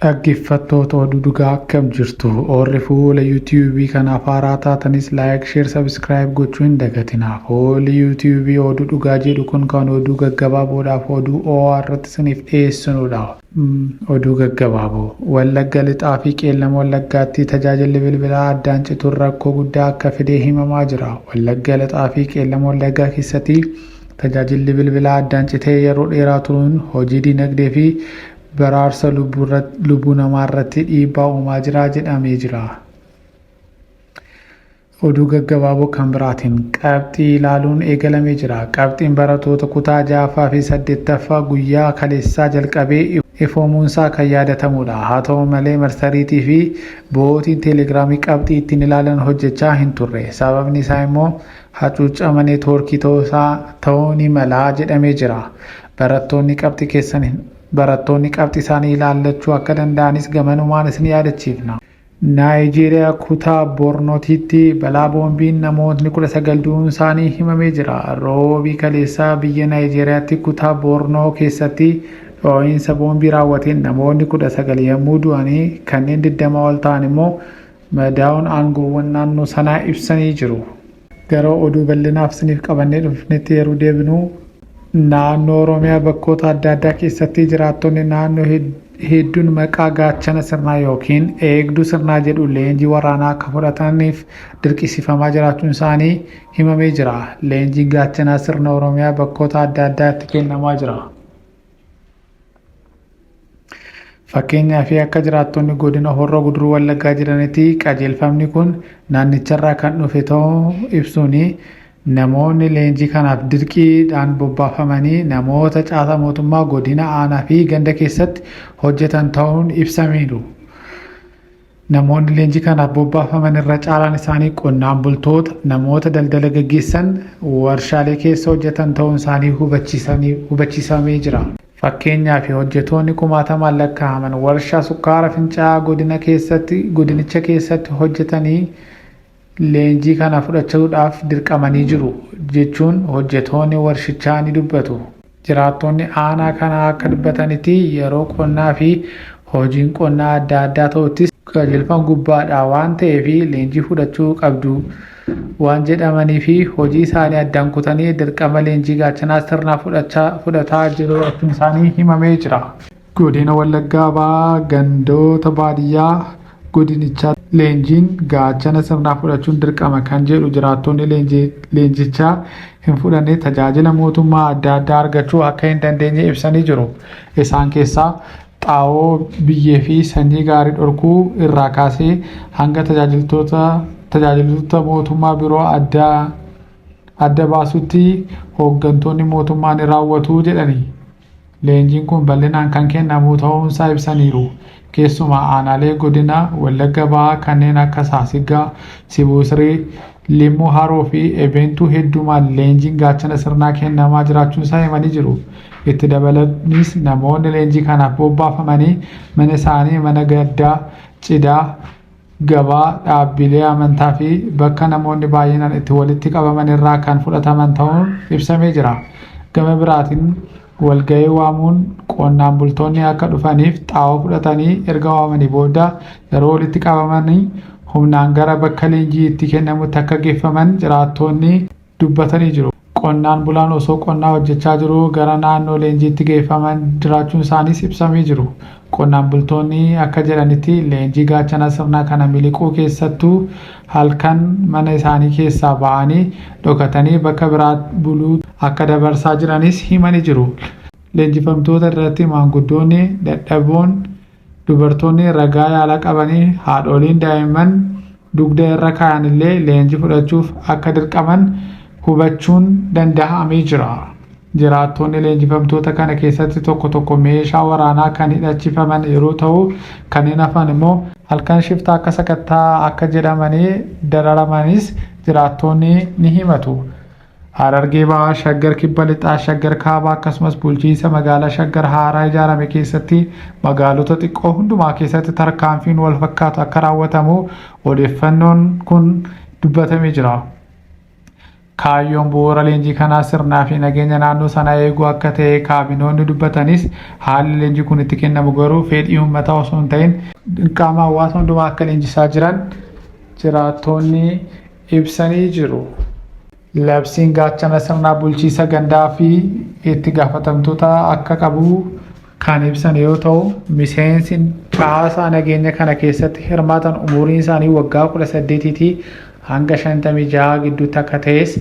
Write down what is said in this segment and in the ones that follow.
Dhaggeffattoota Oduu Dhugaa akkam jirtu? Oorri fuula YouTube kanaaf haaraa taatanis like, share, subscribe gochuu hin dagatinaa. Fuulli YouTube Oduu Dhugaa jedhu kun kan oduu gaggabaaboodhaaf oduu oo'aa irratti isiniif dhiyeessinudha. Oduu gaggabaaboo. Wallagga Lixaa fi Qeellam Wallaggaatti tajaajilli bilbilaa addaan cituun rakkoo guddaa akka fidee himamaa jira. Wallagga Lixaa fi Qeellam Wallaggaa keessatti tajaajilli bilbilaa addaan citee yeroo dheeraa turuun hojii dinagdee fi Baraarsa lubbuu namaa irratti dhiibbaa uumaa jira jedhamee jira. Oduu gaggabaaboo kan biraatiin qabxii ilaaluun eegalamee jira. Qabxiin baratoota kutaa 6ffaa fi 8ffaa guyyaa kaleessaa jalqabee ifoomuunsaa kan yaadatamuudha. Haa ta'u malee marsariitii fi bo'ootiin teelegiraamii qabxii ittiin ilaalan hojjechaa hin turre. Sababni isaa immoo hacuuccama neetwoorkii ta'uu isaa ta'uu ni mala jedhamee jira. Barattoonni qabxi keessan hin Barattoonni qabxi isaanii ilaallachuu akka danda'anis gamanumaan isin yaadachiifna. Naayijeeriyaa kutaa Bornotiitti balaa boombiin namootni 19 du'uun isaanii himamee jira. Roobii kaleessaa biyya Naayijeeriyaatti kutaa Bornoo keessatti dhoo'insa boombii raawwateen namoonni 19 yommuu du'anii kanneen 20 ol ta'an immoo madaa'uun aangoowwan naannoo sanaa ibsanii jiru. Gara oduu bal'inaaf isiniif qabannee dhufnetti yeroo deebinu naannoo Oromiyaa bakkoota adda addaa keessatti jiraattonni naannoo hedduun maqaa gaachana sirnaa yookiin eegduu sirnaa jedhu leenjii waraanaa akka fudhataniif dirqisiifamaa jiraachuun isaanii himamee jira. Leenjiin gaachanaa sirna Oromiyaa bakkoota adda addaatti kennamaa jira. Fakkeenyaa fi akka jiraattonni godina Horroo Guduruu Wallaggaa jiranitti qajeelfamni kun naannicharraa kan dhufe ta'uu ibsuun namoonni leenjii kanaaf dirqiidhaan bobbaafamanii namoota caasaa mootummaa godina aanaa fi ganda keessatti hojjetan ta'uun ibsamiiru. Namoonni leenjii kanaaf bobbaafaman irra caalaan isaanii qonnaan bultoota, namoota daldala gaggeessan, warshaalee keessa hojjetan ta'uun isaanii hubachiisamee jira. Fakkeenyaaf hojjetoonni kumaatamaan lakkaa'aman warshaa sukkaara fincaa'aa godina keessatti godinicha keessatti hojjetanii leenjii kana fudhachuudhaaf dirqamanii jiru jechuun hojjetoonni warshichaa ni dubbatu. Jiraattonni aanaa kanaa akka dubbatanitti yeroo qonnaa fi hojiin qonnaa adda addaa ta'uttis qajeelfan gubbaadhaa waan ta'eef leenjii fudhachuu qabdu waan jedhamanii fi hojii isaanii addaan kutanii dirqama leenjii gaachanaa sirnaa fudhataa jiraachuun isaanii himamee jira. Godina Wallaggaa Bahaa gandoota baadiyyaa godinichaa leenjiin gaachana sirnaa fudhachuun dirqama kan jedhu jiraattonni leenjicha hin fudhanne tajaajila mootummaa adda addaa argachuu akka hin dandeenye ibsanii jiru. Isaan keessaa xaa'oo, biyyee fi sanyii gaarii dhorkuu irraa kaasee hanga tajaajiltoota mootummaa biroo adda baasutti hooggantoonni mootummaa ni raawwatu jedhani. Leenjiin kun bal'inaan kan kennamu ta'uunsaa ibsaniiru. Keessumaa aanaalee godina Wallagga Bahaa kanneen akka Saasiggaa, Sibuu Siree, Limmuu Haroo fi Ebeentuu heddumaan leenjiin gaachana sirnaa kennamaa jiraachuunsaa himanii jiru. Itti dabalaniis namoonni leenjii kanaaf bobbaafamanii mana isaanii mana gaddaa, cidaa, gabaa, dhaabbiilee amantaa fi bakka namoonni baay'inaan itti walitti qabaman irraa kan fudhataman ta'uun ibsamee jira. Gama biraatiin walga'ii waamuun qonnaan bultoonni akka dhufaniif xaa'oo fudhatanii erga waamanii booda yeroo walitti qabamanii humnaan gara bakka leenjii itti kennamutti akka geeffaman jiraattoonni dubbatanii jiru. Qonnaan bulaan osoo qonnaa hojjechaa jiruu gara naannoo leenjiitti geeffaman jiraachuun isaaniis ibsamee jiru. Qonnaan bultoonni akka jedhanitti leenjii gaachana sirnaa kana miliquu keessattuu halkan mana isaanii keessaa ba'anii dhokatanii bakka biraa buluu akka dabarsaa jiranis himanii jiru. Leenjifamtoota irratti maanguddoonni dadhaboon Dubartoonni ragaa yaala qabanii haadhooliin daa'imman dugda irra kaayan illee leenjii fudhachuuf akka dirqaman hubachuun danda'amee jira. Jiraattoonni leenjifamtoota kana keessatti tokko tokko meeshaa waraanaa kan hidhachifaman yeroo ta'u kanneen hafan immoo halkan shiftaa akka sakatta'aa akka jedhamanii dararamanis jiraattoonni ni himatu. Harargee Bahaa, Shaggar Kibba Lixaa, Shaggar Kaabaa akkasumas bulchiinsa magaalaa Shaggar haaraa ijaarame keessatti magaalota xiqqoo hundumaa keessatti tarkaanfiin wal fakkaatu akka raawwatamu odeeffannoon kun dubbatamee jira. Kaayyoon bu'uura leenjii kanaa sirnaa fi nageenya naannoo sanaa eeguu akka ta'e kaabinoonni dubbatanis haalli leenjii kun itti kennamu garuu fedhii uummataa osoo hin ta'in dirqama hawaasa hundumaa akka leenjisaa jiran jiraattoonni ibsanii jiru. Labsiin gaachana sirnaa bulchiisa gandaa fi itti gaafatamtoota akka qabu kan ibsan yoo ta'u, miseensi caasaa nageenya kana keessatti hirmaatan umuriin isaanii waggaa 18tii hanga 56 gidduutti akka ta'es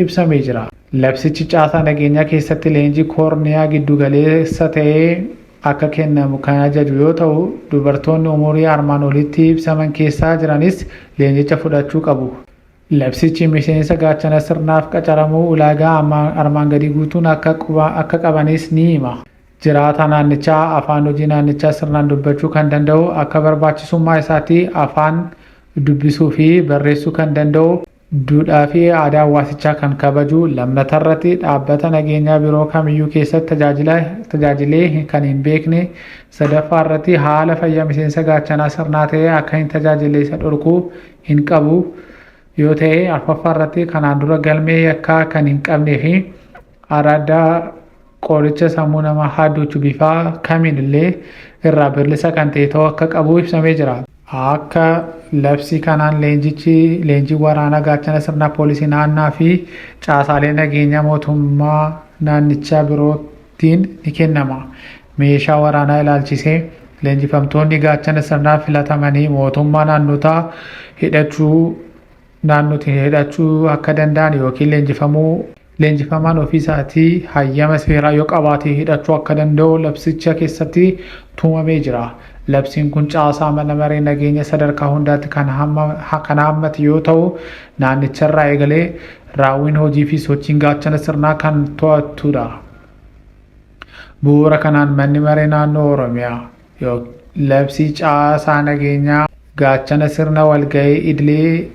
ibsamee jira. Labsichi caasaa nageenyaa keessatti leenjii koorniyaa giddugaleessa ta'ee akka kennamu kan ajaju yoo ta'u, dubartoonni umurii armaan olitti ibsaman keessaa jiranis leenjicha fudhachuu qabu. Labsichi miseensa Gaachana Sirnaaf qacaramuuf ulaagaa armaan gadii guutuun akka qabanis ni hima. Jiraataa naannichaa, afaan hojii naannichaa sirnaan dubbachuu kan danda'u, akka barbaachisummaa isaatti afaan dubbisuu fi barreessuu kan danda'u, Duudhaa fi aadaa hawaasichaa kan kabaju, lammata irratti dhaabbata nageenyaa biroo kamiyyuu keessatti tajaajila tajaajilee kan hin beekne, sadaffaa irratti haala fayyaa miseensa gaachanaa sirnaa ta'ee akka hin tajaajille isa dhorku hin qabu yoo ta'e, arfaffaa irratti kanaan dura galmee yakkaa kan hin qabnee fi Araaddaa qoricha sammuu namaa haadduuchu bifaa kamiin illee irraa birlisa kan ta'e ta'uu akka qabu ibsamee jira. Akka labsii kanaan leenjichi leenjii waraanaa gaachana sirnaa poolisii naannaa fi caasaalee nageenyaa mootummaa naannichaa birootiin ni kennama. Meeshaa waraanaa ilaalchisee leenjifamtoonni gaachana sirnaa filatamanii mootummaa naannotaa hidhachuu naannootiin hidhachuu akka danda'an yookiin leenjifamuu leenjifamaan ofii isaatii hayyama seeraa yoo qabaatee hidhachuu akka danda'u labsicha keessatti tumamee jira. Labsiin kun caasaa mana maree nageenya sadarkaa hundaatti kan haammate yoo ta'u, naannicharraa eegalee raawwiin hojii fi sochiin gaachana sirnaa kan to'attudha. Bu'uura kanaan manni maree naannoo Oromiyaa. Labsii caasaa nageenyaa gaachana sirna walga'ii idilee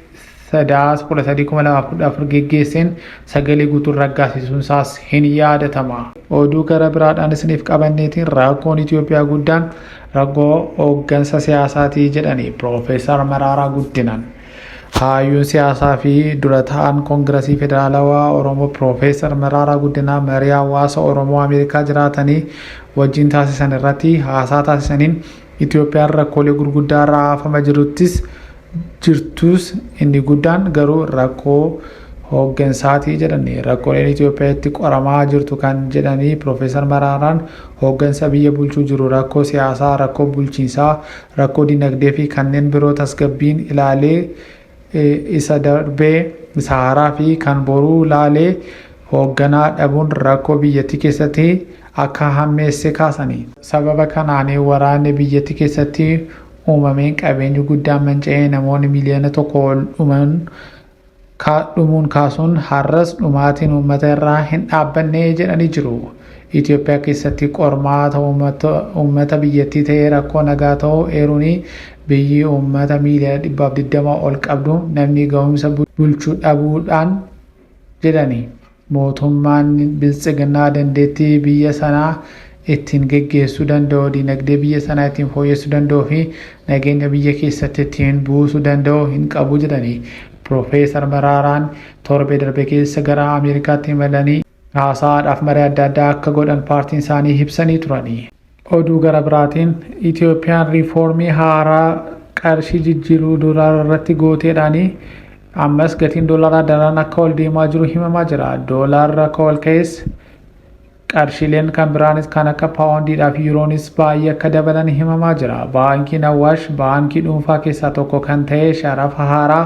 sadaas 13,2014 geggeesseen sagalee guutuun raggaasisuun isaas hin yaadatama. Oduu gara biraadhaan isiniif qabanneetiin rakkoon Itoophiyaa guddaan rakkoo hooggansa siyaasaatii jedhanii Piroofeesar Maraaraa Guddinaan. Hayyuun siyaasaa fi dura ta'an Koongirasii Federaalawaa Oromoo Piroofeesar Maraaraa Guddinaa marii hawaasa Oromoo Ameerikaa jiraatanii wajjin taasisan irratti haasaa taasisaniin Itoophiyaan rakkoolee gurguddaa irraa haafama jiruttis jirtuus inni guddaan garuu rakkoo hooggansaati jedhani. Rakkooleen Itoophiyaa itti qoramaa jirtu kan jedhanii Piroofeesar Maraaraan hooggansa biyya bulchuu jiru rakkoo siyaasaa, rakkoo bulchiinsaa, rakkoo dinagdee fi kanneen biroo tasgabbiin ilaalee isa darbee isa haaraa fi kan boruu ilaalee hoogganaa dhabuun rakkoo biyyattii keessatti akka hammeesse kaasanii sababa kanaan waraanni biyyattii keessatti uumameen qabeenyi guddaan manca'ee namoonni miliyoona tokko ol dhuman Kaadhumuun kaasuun har'as dhumaatiin uummata irraa hin dhaabbanne jedhanii jiru. Itoophiyaa keessatti qormaata uummata biyyattii ta'ee rakkoo nagaa ta'uu eeruun biyyi uummata miiliyoona dhibbaaf 20 ol qabdu namni gahumsa bulchuu dhabuudhaan jedhani. Mootummaan Biltsiginnaa dandeettii biyya sanaa ittiin geggeessuu danda'u, diinagdee biyya sanaa ittiin fooyyessuu danda'uu fi nageenya biyya keessatti ittiin buusuu danda'u hin qabu jedhanii, Pirofeesar Maraaraan torbee darbe keessa gara Ameerikaatti imalanii haasaadhaaf maree adda addaa akka godhan paartiin isaanii ibsanii turani. Oduu gara biraatiin Itiyoophiyaan riifoormii haaraa qarshii jijjiiruu doolaara irratti gooteedhaan ammas gatiin doolaraa daran akka ol deemaa jiru himamaa jira. Doolaarri akka ol ka'es qarshiileen kan biraanis kan akka paawundiidhaa fi yuuroonis baay'ee akka dabalan himamaa jira. Baankiin Awwaash baankii dhuunfaa keessaa tokko kan ta'e sharafa haaraa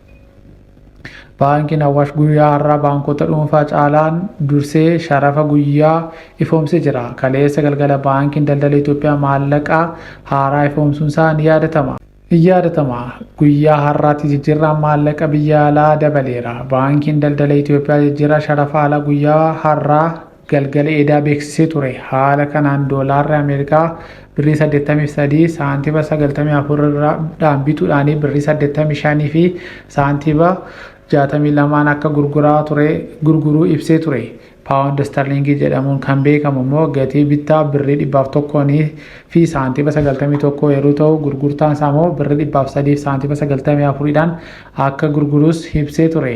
Baankiin Awwaash guyyaa har'aa baankota dhuunfaa caalaan dursee sharafa guyyaa ifoomsee jira. Kaleessa galgala Baankiin Daldala Itoophiyaa maallaqaa haaraa ifoomsuunsaa ni yaadatama. Ni yaadatama. Guyyaa har'aatti jijjiirraan maallaqa biyya alaa dabaleera. Baankiin Daldala Itoophiyaa jijjiirraa sharafa alaa guyyaa har'aa galgala eedaa beeksisee ture. Haala kanaan doolaarri Ameerikaa birrii 83 saantiba 94 irra dhaan bituudhaan birrii 85 fi saantiba 62n akka gurguraa ture gurguruu ibsee ture. Paawundi Istarliingii jedhamuun kan beekamu immoo gatii bittaa birrii 101 fi saantiba 91 yeroo ta'u gurgurtaan isaa immoo birrii 103 fi saantiba 94 dhaan akka gurguruus ibsee ture.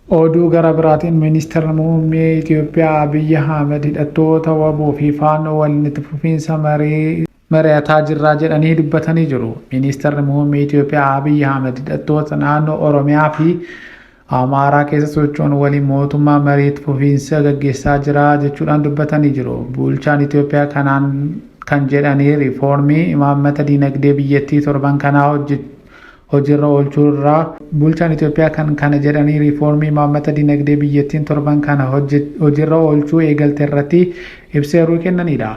Oduu gara biraatiin Ministirri Muummee Itiyoophiyaa Abiy Ahmed hidhattoota wbo fi Faannoo waliin itti fufiinsa marii mari'ataa jirra jedhanii dubbatanii jiru. Ministirri Muummee Itiyoophiyaa Abiy Ahmed hidhattoota naannoo Oromiyaa fi Amaaraa keessa socho'an waliin mootummaan marii itti fufiinsa gaggeessaa jira jechuudhaan dubbatanii jiru. Bulchaan Itiyoophiyaa kanaan kan jedhanii riifoormii imaammata diinagdee biyyattii torban kanaa hojjechuu hojiirra oolchuu irra bulchaan Itoophiyaa kan kana jedhanii riifoormii imaammata dinagdee biyyattiin torban kana hojiirra oolchuu eegalte irratti ibsa yeroo kennaniidha.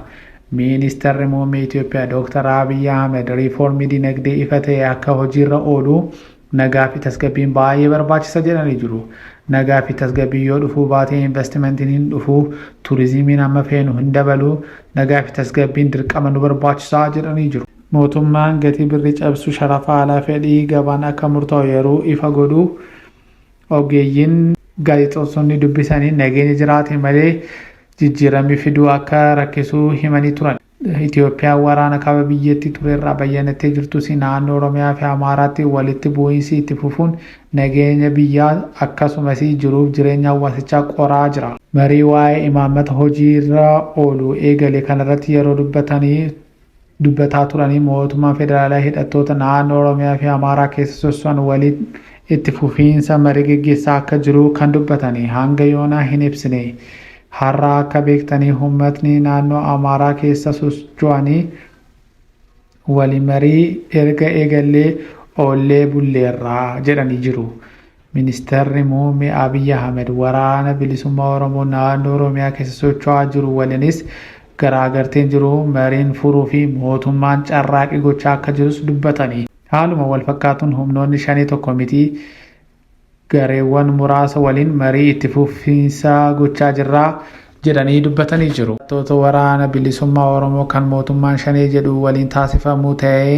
Ministarri Muummee Itoophiyaa Dooktar Abiy Ahmed riifoormii dinagdee ifa ta'e akka hojiirra oolu nagaa fi tasgabbiin baay'ee barbaachisa jedhanii jiru. Nagaa fi tasgabbiin yoo dhufuu baate investimentiin hin dhufu, turizimiin amma feenu hin dabalu, nagaa fi tasgabbiin dirqama nu barbaachisa jedhanii jiru. Mootummaan gatii birrii cabsu sharafa alaa fedhii gabaan akka murtaa'u yeroo ifa godhu ogeeyyiin gaazexeessonni dubbisaniin nageenya jiraate malee jijjiiramni fiduu akka rakkisu himanii turan. Itoophiyaan waraana kaaba biyyattii turerraa bayyanattee jirtus naannoo Oromiyaafi Amaaraatti walitti bu'iinsi itti fufuun nageenya biyyaa akkasumas jiruuf jireenya hawaasichaa qoraa jira. Marii waa'ee imaammata hojiirra oolu eegale kanarratti yeroo dubbatan, dubbataa turanii mootummaan federaalaa hidhattoota naannoo Oromiyaa fi Amaaraa keessa sosso'an waliin itti fufiinsa marii geggeessaa akka jiru kan dubbatanii hanga yoonaa hin ibsine. Har'a akka beektanii hummatni naannoo Amaaraa keessa sosjo'anii waliin marii erga eegallee oollee bulleerra jedhanii jiru. Ministarri Muummee Abiy Ahimed Waraana Bilisummaa Oromoo naannoo Oromiyaa keessa socho'aa jiru waliinis garaagarteen jiru mariin furuufi mootummaan carraaqii gochaa akka jirus dubbatani. Haaluma walfakkaatuun humnoonni Shanee tokko miti gareewwan muraasa waliin marii itti fufiinsaa gochaa jirra, jedhanii dubbatanii jiru. Hidhattoota Waraana Bilisummaa Oromoo kan mootummaan Shanee jedhu waliin taasifamu ta'ee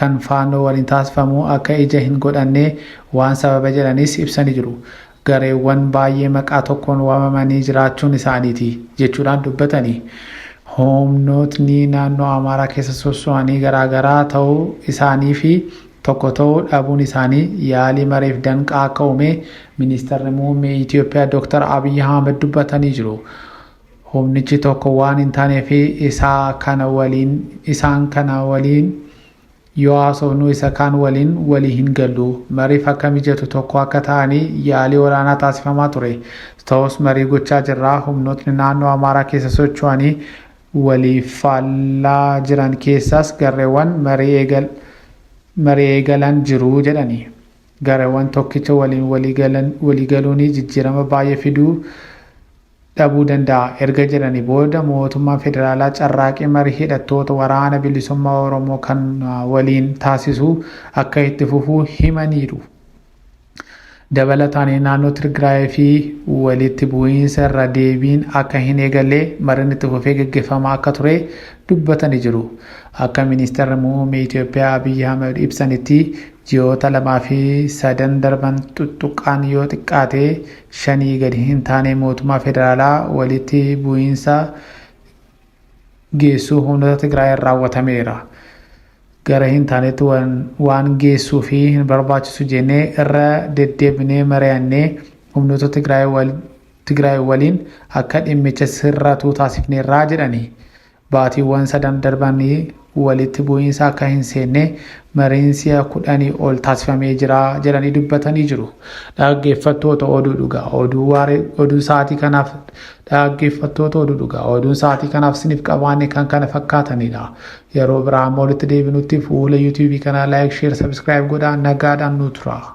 kan Faannoo waliin taasifamu akka ija hin godhanne waan sababa jedhanis ibsanii jiru. Gareewwan baay'ee maqaa tokkoon waamamanii jiraachuun isaaniiti jechuudhaan dubbatanii, humnootni naannoo Amaaraa keessa sosso'anii garaagaraa ta'uu isaaniifi tokko ta'uu dhabuun isaanii yaalii mariif danqaa akka uumee Ministarri Muummee Itiyoophiyaa Dooktar Abiy Ahmed dubbatanii jiru. Humnichi tokko waan hin taanee fi isaa kana waliin isaan kana waliin yoo haasofnu isa kaan waliin walii hin gallu. Mariif akka mijatu tokko akka ta'anii yaalii olaanaa taasifamaa ture. Ta'us marii gochaa jirra. Humnootni naannoo Amaaraa keessa socho'anii waliif faallaa jiran keessaas garreewwan marii eegalan jiru jedhani. Gareewwan tokkicha waliin walii galuunii jijjiirama baay'ee fiduu dhabuu danda'a erga jedhanii booda mootummaan federaalaa carraaqii marii hidhattoota Waraana Bilisummaa Oromoo kana waliin taasisu akka itti fufu himaniiru. Dabalataan naannoo Tirgiraayii fi walitti bu'iinsa irra deebiin akka hin eegalle mariin itti fufee gaggeeffamaa akka ture dubbatanii jiru. Akka Ministeerri Muummee Itoophiyaa Abiy Ahmed ibsanitti ji'oota lamaa fi sadan darban xuxxuqqaan yoo xiqqaate shanii gadi hin taane mootummaa federaalaa walitti bu'iinsa geessuu humnoota Tigraayeen raawwatameera. gara hin taanetti waan, waan geessuu fi hin barbaachisu jennee irra deddeebinee mari'annee humnoota Tigraay wal, Tigraay waliin akka dhimmicha sirratu taasifneerra jedhani. Baatiiwwan sadan darban walitti bu'iinsa akka hin seenne mariin si'a kudhanii ol taasifamee jira jedhanii dubbatanii jiru. Dhaggeeffattoota oduu dhugaa oduu waaree oduu sa'aatii kanaaf dhaggeeffattoota oduu dhugaa oduun sa'aatii kanaaf siniif qabaanne kan kana fakkaatanidha. Yeroo biraa amma walitti deebinutti fuula youtube kanaa like share subscribe godhaa nagaadhaan nuu turaa.